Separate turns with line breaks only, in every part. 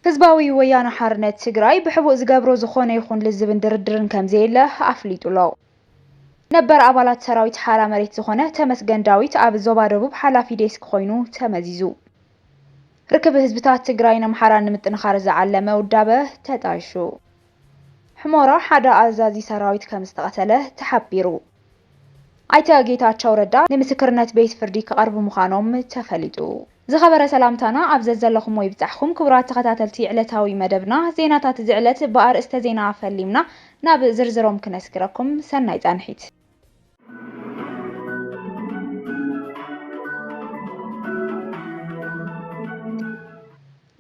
ህዝባዊ ወያነ ሓርነት ትግራይ ብሕቡእ ዝገብሮ ዝኾነ ይኹን ልዝብን ድርድርን ከምዘየለ ኣፍሊጡ'ሎ። ነበር ኣባላት ሰራዊት ሓራ መሬት ዝኾነ ተመስገን ዳዊት ኣብ ዞባ ደቡብ ሓላፊ ዴስክ ኾይኑ ተመዚዙ። ርክብ ህዝብታት ትግራይን ኣምሓራን ንምጥንኻር ዝዓለመ ውዳበ ተጣይሹ። ሑመራ ሓደ ኣዛዚ ሰራዊት ከምዝተቐተለ ተሓቢሩ። ኣይተ ጌታቸው ረዳ ንምስክርነት ቤት ፍርዲ ክቐርቡ ምዃኖም ተፈሊጡ። ዝኸበረ ሰላምታና ኣብ ዘዘለኹሞ ይብጻሕኹም ክቡራት ተኸታተልቲ ዕለታዊ መደብና ዜናታት እዚ ዕለት ብኣርእስተ ዜና ፈሊምና ናብ ዝርዝሮም ክነስግረኩም ሰናይ ጻንሒት።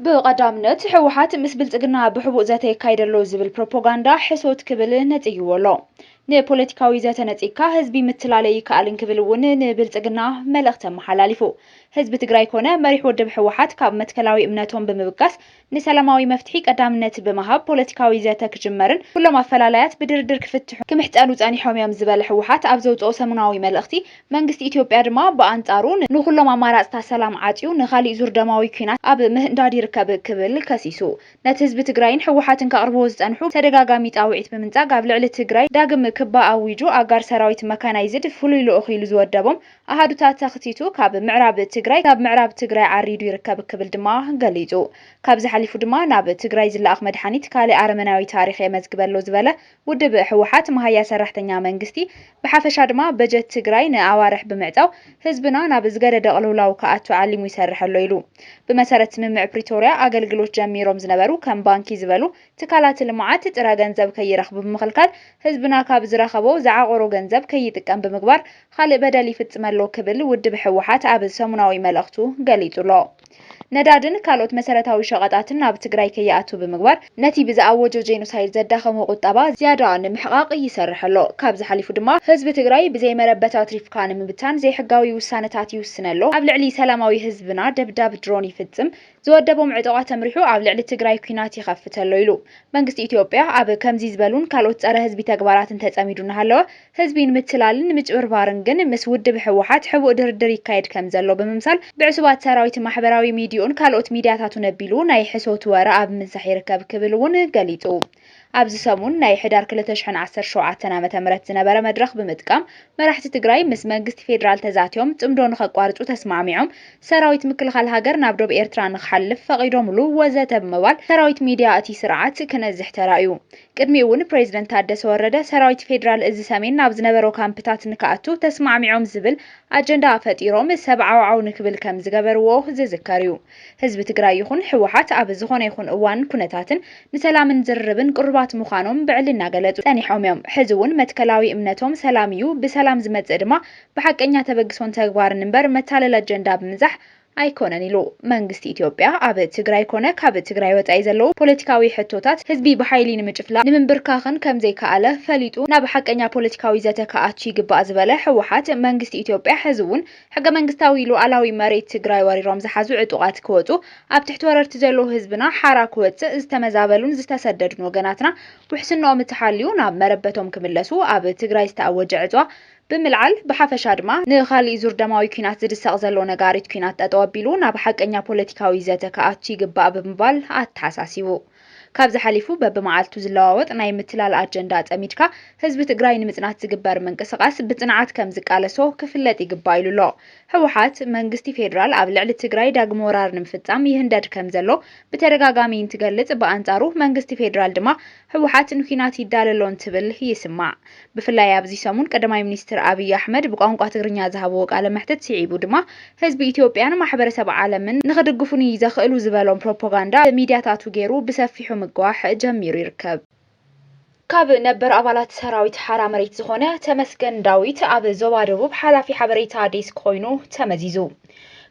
ብቐዳምነት ህወሓት ምስ ብልፅግና ብሕቡእ ዘተ የካይድ ኣሎ ዝብል ፕሮፖጋንዳ ሕሶት ክብል ነፅይዎ ኣሎ። ንፖለቲካዊ ዘተ ነፂግካ ህዝቢ ምትላለ ይከኣል እንክብል እውን ንብልፅግና መልእኽቲ ኣመሓላሊፉ። ህዝቢ ትግራይ ኮነ መሪሕ ውድብ ህወሓት ካብ መትከላዊ እምነቶም ብምብጋስ ንሰላማዊ መፍትሒ ቀዳምነት ብምሃብ ፖለቲካዊ ዘተ ክጅመርን ኩሎም ኣፈላላያት ብድርድር ክፍትሑን ክምሕፀኑ ፀኒሖም እዮም ዝበለ ህወሓት ኣብ ዘውፅኦ ሰሙናዊ መልእኽቲ መንግስቲ ኢትዮጵያ ድማ ብኣንጻሩ ንኹሎም ኣማራጽታት ሰላም ዓጽዩ ንኻሊእ ዙር ደማዊ ኲናት ኣብ ምህንዳድ ይርከብ ክብል ከሲሱ። ነቲ ህዝቢ ትግራይን ህወሓትን ከቕርብዎ ዝጸንሑ ተደጋጋሚ ጻውዒት ብምንጻግ ኣብ ልዕሊ ትግራይ ዳግም ክባ ኣዊጁ ኣጋር ሰራዊት መካናይዝድ ፍሉይ ልኡኽ ኢሉ ዝወደቦም ኣሃዱታት ተኽቲቱ ካብ ምዕራብ ትግራይ ካብ ምዕራብ ትግራይ ዓሪዱ ይርከብ ክብል ድማ ገሊጹ። ካብዚ ሓሊፉ ድማ ናብ ትግራይ ዝለኣኽ መድሓኒት ካልእ ኣረመናዊ ታሪኽ የመዝግበ ኣሎ ዝበለ ውድብ ህወሓት መሃያ ሰራሕተኛ መንግስቲ ብሓፈሻ ድማ በጀት ትግራይ ንኣዋርሕ ብምዕፃው ህዝብና ናብ ዝገደደ ቅልውላው ክኣቱ ዓሊሙ ይሰርሕ ኣሎ ኢሉ። ብመሰረት ስምምዕ ፕሪቶርያ ኣገልግሎት ጀሚሮም ዝነበሩ ከም ባንኪ ዝበሉ ትካላት ልምዓት ጥረ ገንዘብ ከይረኽቡ ብምኽልካል ህዝብና ካብ ዝረኸቦ ዝዓቖሮ ገንዘብ ከይጥቀም ብምግባር ኻሊእ በደል ይፍፅመሎ ክብል ውድብ ህወሓት ኣብ ሰሙናዊ መልእኽቱ ገሊፁ ኣሎ። ነዳድን ካልኦት መሰረታዊ ሸቐጣትን ናብ ትግራይ ከይኣቱ ብምግባር ነቲ ብዝኣወጆ ጄኖሳይድ ዘዳኸሞ ቁጠባ ዝያዳ ንምሕቓቕ ይሰርሕ ኣሎ። ካብዚ ሓሊፉ ድማ ህዝቢ ትግራይ ብዘይ መረበት ኣትሪፍካ ንምብታን ዘይሕጋዊ ውሳነታት ይውስነ ኣሎ፣ ኣብ ልዕሊ ሰላማዊ ህዝብና ደብዳብ ድሮን ይፍጽም፣ ዝወደቦም ዕጡቓት ኣምሪሑ ኣብ ልዕሊ ትግራይ ኲናት ይኸፍት ኣሎ ኢሉ። መንግስቲ ኢትዮጵያ ኣብ ከምዚ ዝበሉን ካልኦት ጸረ-ህዝቢ ተግባራትን ተጸሚዱ እናሃለወ፣ ህዝቢ ንምትላልን ንምጭብርባርን ግን ምስ ውድብ ህወሓት ሕቡእ ድርድር ይካየድ ከምዘሎ ብምምሳል ብዕሱባት ሰራዊት ማሕበራዊ ሚዲዩኡን ካልኦት ሚዲያታቱን ኣቢሉ ናይ ሕሶት ወረ ኣብ ምንሳሕ ይርከብ ክብል እውን ገሊፁ። ኣብዚ ሰሙን ናይ ሕዳር ክልተ ሽሕን ዓሰርተ ሸውዓተን ዓመተ ምህረት ዝነበረ መድረኽ ብምጥቃም መራሕቲ ትግራይ ምስ መንግስቲ ፌዴራል ተዛትዮም ፅምዶ ንኸቋርፁ ተስማዕሚዖም ሰራዊት ምክልኻል ሃገር ናብ ዶብ ኤርትራ ንክሓልፍ ፈቒዶምሉ ወዘተ ብምባል ሰራዊት ሚዲያ እቲ ስርዓት ክነዝሕ ተራእዩ። ቅድሚኡ'ውን ፕረዚደንት ታደሰ ወረደ ሰራዊት ፌደራል እዚ ሰሜን ናብ ዝነበሮ ካምፕታት ንክኣቱ ተስማዕሚዖም ዝብል ኣጀንዳ ፈጢሮም ሰብ ዓውዓው ንክብል ከምዝገበርዎ ዝዝከር እዩ። ህዝቢ ትግራይ ይኹን ህወሓት ኣብ ዝኾነ ይኹን እዋንን ኩነታትን ንሰላምን ዝርርብን ቅሩባት ምዃኖም ብዕሊ እናገለፁ ፀኒሖም እዮም። ሕዚ'ውን መትከላዊ እምነቶም ሰላም እዩ፣ ብሰላም ዝመፅእ ድማ ብሓቀኛ ተበግሶን ተግባርን እምበር መታለሊ ኣጀንዳ ብምንዛሕ ኣይኮነን ኢሉ። መንግስቲ ኢትዮጵያ ኣብ ትግራይ ኮነ ካብ ትግራይ ወፃኢ ዘለዉ ፖለቲካዊ ሕቶታት ህዝቢ ብሓይሊ ንምጭፍላቕ ንምንብርካኽን ከምዘይከኣለ ፈሊጡ ናብ ሓቀኛ ፖለቲካዊ ዘተ ክኣቱ ይግባእ ዝበለ ህወሓት፣ መንግስቲ ኢትዮጵያ ሕዚ'ውን ሕገመንግስታዊ ሉኣላዊ መሬት ትግራይ ወሪሮም ዝሓዙ ዕጡቓት ክወፁ ኣብ ትሕቲ ወረርቲ ዘለዉ ህዝብና ሓራ ክወፅእ ዝተመዛበሉን ዝተሰደዱን ወገናትና ውሕስንኦም እተሓልዩ ናብ መረበቶም ክምለሱ ኣብ ትግራይ ዝተኣወጀ ዕፅዋ ብምልዓል፣ ብሓፈሻ ድማ ንኻሊእ ዙር ደማዊ ኲናት ዝድሰቕ ዘሎ ነጋሪት ኲናት ጠጠው ኣቢሉ ናብ ሓቀኛ ፖለቲካዊ ዘተ ክኣቱ ይግባእ ብምባል ኣተሓሳሲቡ። ካብዚ ሓሊፉ በብመዓልቱ ዝለዋወጥ ናይ ምትላል ኣጀንዳ ኣጸሚድካ ህዝቢ ትግራይ ንምጽናት ዝግበር ምንቅስቓስ ብጽንዓት ከም ዝቃለሶ ክፍለጥ ይግባእ ኢሉ ኣሎ። ህወሓት፣ መንግስቲ ፌደራል ኣብ ልዕሊ ትግራይ ዳግመ ወራር ንምፍጻም ይህንደድ ከም ዘሎ ብተደጋጋሚ እንትገልጽ፣ ብኣንጻሩ መንግስቲ ፌደራል ድማ ህወሓት ንኲናት ይዳሎ ኣሎ እንትብል ይስማዕ። ብፍላይ ኣብዚ ሰሙን ቀዳማይ ሚኒስትር ኣብይ ኣሕመድ ብቋንቋ ትግርኛ ዝሃብዎ ቃለ መሕትት ስዒቡ ድማ ህዝቢ ኢትዮጵያን ማሕበረሰብ ዓለምን ንኽድግፉኒ ዘኽእሉ ዝበሎም ፕሮፖጋንዳ ብሚድያታቱ ገይሩ ብሰፊሑ ምግዋሕ ጀሚሩ ይርከብ። ካብ ነበር ኣባላት ሰራዊት ሓራ መሬት ዝኾነ ተመስገን ዳዊት ኣብ ዞባ ደቡብ ሓላፊ ሓበሬታ ዴስክ ኮይኑ ተመዚዙ።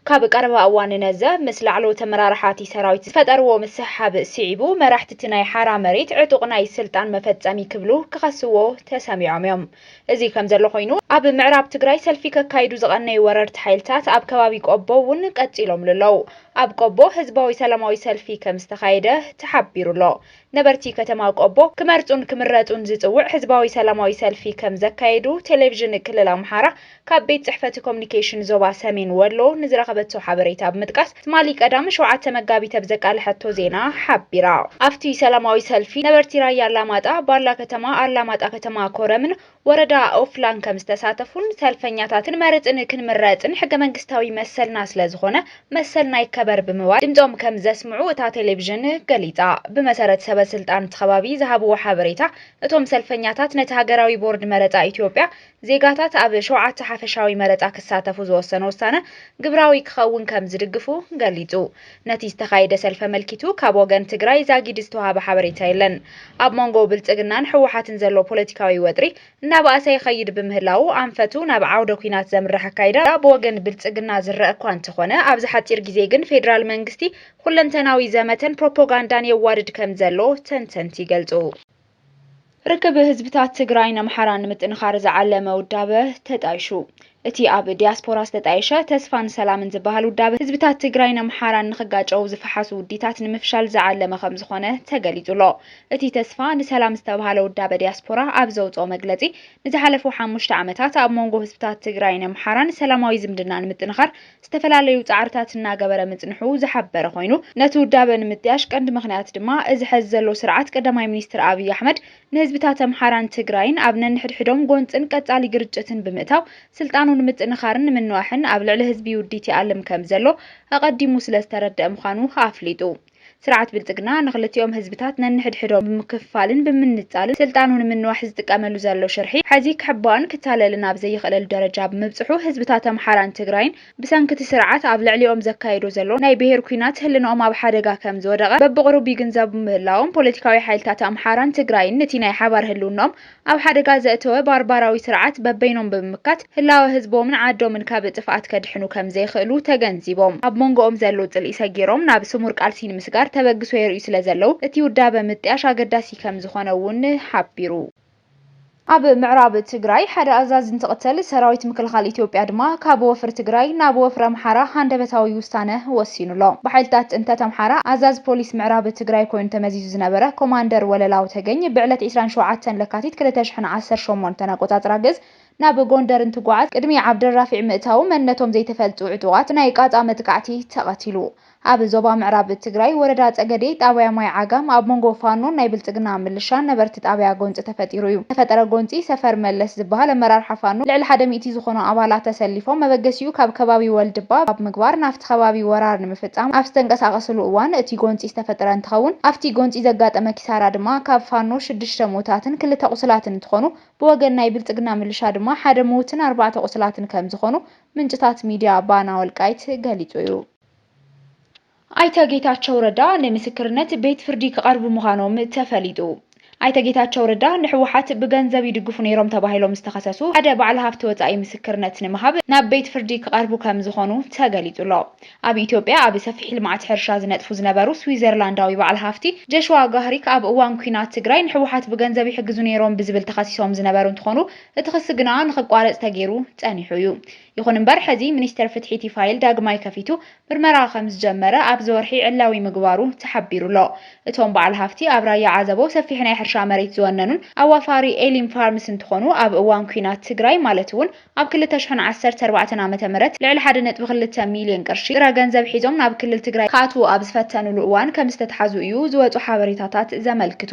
ካብ ቀረባ እዋን ንነዘ ምስ ላዕለዎት ኣመራርሓ'ቲ ሰራዊት ዝፈጠርዎ ምስሕሓብ ስዒቡ፣ መራሕቲ'ቲ ናይ ሓራ መሬት ዕጡቕ ናይ ስልጣን መፈጸሚ ክብሉ ክኸስዎ ተሰሚዖም እዮም። እዚ ከምዘሎ ኮይኑ፣ ኣብ ምዕራብ ትግራይ ሰልፊ ከካይዱ ዝቐነዩ ወረርቲ ሓይልታት ኣብ ከባቢ ቆቦ እውን ቀጺሎምሉ ኣለዉ። ኣብ ቆቦ ህዝባዊ ሰላማዊ ሰልፊ ከምዝተኻየደ ተሓቢሩ'ሎ። ነበርቲ ከተማ ቆቦ ክመርጹን ክምረጹን ዝጽውዕ ህዝባዊ ሰላማዊ ሰልፊ ከም ዘካየዱ ቴሌቪዥን ክልል ኣምሓራ ካብ ቤት ጽሕፈት ኮሙኒኬሽን ዞባ ሰሜን ወሎ ንዝረኸበቶ ሓበሬታ ብምጥቃስ ትማሊ ቀዳም ሸውዓተ መጋቢት ኣብ ዘቃለሐቶ ዜና ሓቢራ። ኣብቲ ሰላማዊ ሰልፊ ነበርቲ ራያ ኣላማጣ፣ ባላ ከተማ፣ ኣላማጣ ከተማ፣ ኮረምን ወረዳ ኦፍላን ከም ዝተሳተፉን ሰልፈኛታትን መርፅን ክንምረፅን ሕገ መንግስታዊ መሰልና ስለ ዝኾነ መሰልና ይከበር ብምባል ድምፆም ከም ዘስምዑ እታ ቴሌቪዥን ገሊፃ። ብመሰረት ሰበ ስልጣን እቲ ከባቢ ዝሃብዎ ሓበሬታ እቶም ሰልፈኛታት ነቲ ሃገራዊ ቦርድ መረፃ ኢትዮጵያ ዜጋታት ኣብ ሸውዓተ ሓፈሻዊ መረፃ ክሳተፉ ዝወሰኖ ውሳነ ግብራዊ ክኸውን ከም ዝድግፉ ገሊፁ። ነቲ ዝተኻየደ ሰልፊ ኣመልኪቱ ካብ ወገን ትግራይ ዛጊድ ዝተውሃበ ሓበሬታ የለን። ኣብ መንጎ ብልፅግናን ህወሓትን ዘሎ ፖለቲካዊ ወጥሪ እናበኣሰ ይኸይድ ብምህላዉ ኣንፈቱ ናብ ዓውደ ኲናት ዘምርሕ ኣካይዳ ብወገን ብልፅግና ዝረኣ እኳ እንተኾነ ኣብዚ ሓፂር ግዜ ግን ፌዴራል መንግስቲ ኹለንተናዊ ዘመተን ፕሮፖጋንዳን የዋድድ ከምዘሎ ተንተንቲ ይገልፁ። ርክብ ህዝብታት ትግራይን ኣምሓራን ንምጥንኻር ዝዓለመ ውዳበ ተጣይሹ። እቲ ኣብ ዲያስፖራ ዝተጣየሸ ተስፋን ሰላምን ዝበሃል ውዳበ ህዝብታት ትግራይን ኣምሓራን ንኽጋጨው ዝፈሓሱ ውዲታት ንምፍሻል ዝዓለመ ከምዝኾነ ተገሊፁሎ። እቲ ተስፋ ንሰላም ዝተብሃለ ውዳበ ዲያስፖራ ኣብ ዘውፅኦ መግለፂ ንዝሓለፉ ሓሙሽተ ዓመታት ኣብ ሞንጎ ህዝብታት ትግራይን ኣምሓራን ሰላማዊ ዝምድና ንምጥንኻር ዝተፈላለዩ ፃዕርታት እናገበረ ምፅንሑ ዝሓበረ ኮይኑ፣ ነቲ ውዳበ ንምጥያሽ ቀንዲ ምኽንያት ድማ እዚ ሐዚ ዘሎ ስርዓት ቀዳማይ ሚኒስትር ኣብይ ኣሕመድ ንህዝብታት ኣምሓራን ትግራይን ኣብ ነንሕድሕዶም ጎንፅን ቀፃሊ ግርጭትን ብምእታው ስልጣኑ ንምጥንኻርን ንምንዋሕን ኣብ ልዕሊ ህዝቢ ውዲት ይኣልም ከምዘሎ ኣቐዲሙ ስለዝተረደኣ ምዃኑ ኣፍሊጡ። ስርዓት ብልፅግና ንክልቲኦም ህዝብታት ነንሕድሕዶም ብምክፍፋልን ብምንፃልን ስልጣኑ ንምንዋሕ ዝጥቀመሉ ዘሎ ሽርሒ ሐዚ ክሕባእን ክታለልን ኣብ ዘይኽእለሉ ደረጃ ብምብፅሑ ህዝብታት ኣምሓራን ትግራይን ብሰንኪ እቲ ስርዓት ኣብ ልዕሊኦም ዘካይዶ ዘሎ ናይ ብሄር ኲናት ህልንኦም ኣብ ሓደጋ ከምዝወደቐ በብቕሩብ ይግንዘቡ ምህላዎም ፖለቲካዊ ሓይልታት ኣምሓራን ትግራይን ንቲ ናይ ሓባር ህልውንኦም ኣብ ሓደጋ ዘእተወ ባርባራዊ ስርዓት በበይኖም ብምምካት ህላወ ህዝቦምን ዓዶምን ካብ ጥፍኣት ከድሕኑ ከም ዘይኽእሉ ተገንዚቦም ኣብ ሞንጎኦም ዘሎ ጽልኢ ሰጊሮም ናብ ስሙር ቃልሲ ንምስጋር ተበግሶ የርእዩ ስለ ዘለዉ እቲ ውዳበ ምጥያሽ ኣገዳሲ ከም ዝኾነ እውን ሓቢሩ። ኣብ ምዕራብ ትግራይ ሓደ ኣዛዚ እንትቕተል ሰራዊት ምክልኻል ኢትዮጵያ ድማ ካብ ወፍሪ ትግራይ ናብ ወፍሪ ኣምሓራ ሃንደበታዊ ውሳነ ወሲኑ ኣሎ። ብሓይልታት ፅንተት ኣምሓራ ኣዛዚ ፖሊስ ምዕራብ ትግራይ ኮይኑ ተመዚዙ። ዝነበረ ኮማንደር ወለላው ተገኝ ብዕለት ዕስራን ሸውዓተን ለካቲት ክልተ ሽሕን ዓሰርተ ሸሞንተን ኣቆጻጽራ ግእዝ ናብ ጎንደር እንትጓዓዝ ቅድሚ ዓብደልራፊዕ ምእታዉ መንነቶም ዘይተፈልጡ ዕጡቓት ብናይ ቃጻ መጥቃዕቲ ተቐቲሉ። ኣብ ዞባ ምዕራብ ትግራይ ወረዳ ጸገዴ ጣብያ ማይ ዓጋም ኣብ መንጎ ፋኖን ናይ ብልጽግና ምልሻን ነበርቲ ጣብያ ጎንጺ ተፈጢሩ እዩ። ዝተፈጠረ ጎንጺ ሰፈር መለስ ዝበሃል ኣመራርሓ ፋኖ ልዕሊ ሓደ ሚእቲ ዝኾኑ ኣባላት ተሰሊፎም መበገሲኡ ካብ ከባቢ ወልድባ ኣብ ምግባር ናፍቲ ከባቢ ወራር ንምፍፃም ኣብ ዝተንቀሳቐስሉ እዋን እቲ ጎንፂ ዝተፈጠረ እንትኸውን፣ ኣፍቲ ጎንፂ ዘጋጠመ ኪሳራ ድማ ካብ ፋኖ ሽዱሽተ ሙኡታትን ክልተ ቑሱላትን እንትኾኑ፣ ብወገን ናይ ብልፅግና ምልሻ ድማ ሓደ ሙውትን ኣርባዕተ ቑሱላትን ከምዝኾኑ ምንጭታት ሚድያ ባና ወልቃይት ገሊፁ እዩ። ኣይተ ጌታቸው ረዳ ንምስክርነት ቤት ፍርዲ ክቐርቡ ምዃኖም ተፈሊጡ። ኣይተ ጌታቸው ረዳ ንህወሓት ብገንዘብ ይድግፉ ነይሮም ተባሂሎም ዝተኸሰሱ ሓደ ባዓል ሃፍቲ ወፃኢ ምስክርነት ንምሃብ ናብ ቤት ፍርዲ ክቐርቡ ከምዝኾኑ ተገሊፁ'ሎ። ኣብ ኢትዮጵያ ኣብ ሰፊሕ ልምዓት ሕርሻ ዝነጥፉ ዝነበሩ ስዊዘርላንዳዊ ባዓል ሃፍቲ ጀሽዋ ጋህሪክ ኣብ እዋን ኲናት ትግራይ ንህወሓት ብገንዘብ ይሕግዙ ነይሮም ብዝብል ተኸሲሶም ዝነበሩ እንትኾኑ እቲ ኽሲ ግና ንኽቋረፅ ተገይሩ ፀኒሑ እዩ። ይኹን እምበር ሕዚ ሚኒስቴር ፍትሒ እቲ ፋይል ዳግማይ ከፊቱ ምርመራ ከምዝጀመረ ኣብዚ ወርሒ ዕላዊ ምግባሩ ተሓቢሩ'ሎ። እቶም በዓል ሃፍቲ ኣብ ራያ ዓዘቦ ሰፊሕ ናይ ሕርሻ መሬት ዝወነኑን ኣዋፋሪ ኤሊም ፋርምስ እንትኾኑ ኣብ እዋን ኲናት ትግራይ ማለት እውን ኣብ ክልተ ሽሕን ዓሰርተ ኣርባዕተን ዓመተ ምህረት ልዕሊ ሓደ ነጥቢ ክልተ ሚሊየን ቅርሺ ጥረ ገንዘብ ሒዞም ናብ ክልል ትግራይ ክኣትዉ ኣብ ዝፈተንሉ እዋን ከምዝተትሓዙ እዩ ዝወፁ ሓበሬታታት ዘመልክቱ።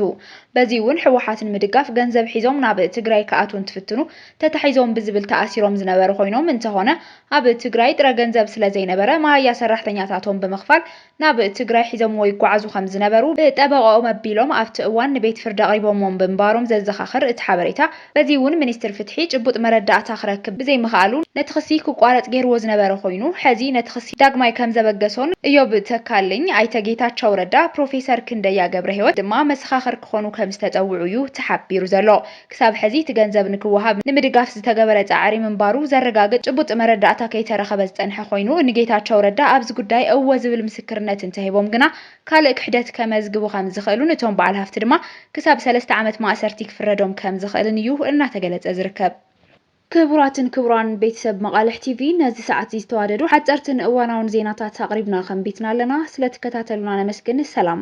በዚ እውን ህወሓት ንምድጋፍ ገንዘብ ሒዞም ናብ ትግራይ ክኣትዉ እንትፍትኑ ተታሒዞም ብዝብል ተኣሲሮም ዝነበሩ ኮይኖም እንተኾነ ኣብ ትግራይ ጥረ ገንዘብ ስለዘይነበረ መሃያ ሰራሕተኛታቶም ብምኽፋል ናብ ትግራይ ሒዞምዎ ይጓዓዙ ከምዝነበሩ ብጠበቐኦም ኣቢሎም ኣብቲ እዋን ንቤት ፍርዲ ኣቕሪቦምዎም ብምንባሮም ዘዘኻኽር እቲ ሓበሬታ በዚ እውን ሚኒስትር ፍትሒ ጭቡጥ መረዳእታ ክረክብ ብዘይምኽኣሉ ነቲ ክሲ ክቋረፅ ገይርዎ ዝነበረ ኮይኑ ሐዚ ነቲ ክሲ ዳግማይ ከምዘበገሶን እዮብ ተካልኝ፣ ኣይተ ጌታቸው ረዳ፣ ፕሮፌሰር ክንደያ ገብረሂወት ድማ መሰኻኽር ክኾኑ ከምዝተፀውዑ እዩ ተሓቢሩ ዘሎ። ክሳብ ሕዚ እቲ ገንዘብ ንክወሃብ ንምድጋፍ ዝተገበረ ፃዕሪ ምንባሩ ዘረጋግፅ ጭቡጥ መረዳእታ ከይተረኸበ ዝፀንሐ ኮይኑ ንጌታቸው ረዳ ኣብዚ ጉዳይ እወ ዝብል ምስክርነት እንተሂቦም ግና ካልእ ክሕደት ከመዝግቡ ከምዝኽእሉን እቶም በዓል ሃፍቲ ድማ ክሳብ ሰለስተ ዓመት ማእሰርቲ ክፍረዶም ከምዝኽእልን እዩ እናተገለፀ ዝርከብ። ክቡራትን ክቡራን ቤተሰብ መቓልሕ ቲቪ ነዚ ሰዓት እዚ ዝተዋደዱ ሓፀርትን እዋናውን ዜናታት ኣቕሪብና ከንቢትና ኣለና። ስለትከታተሉና ነመስግን። ሰላም።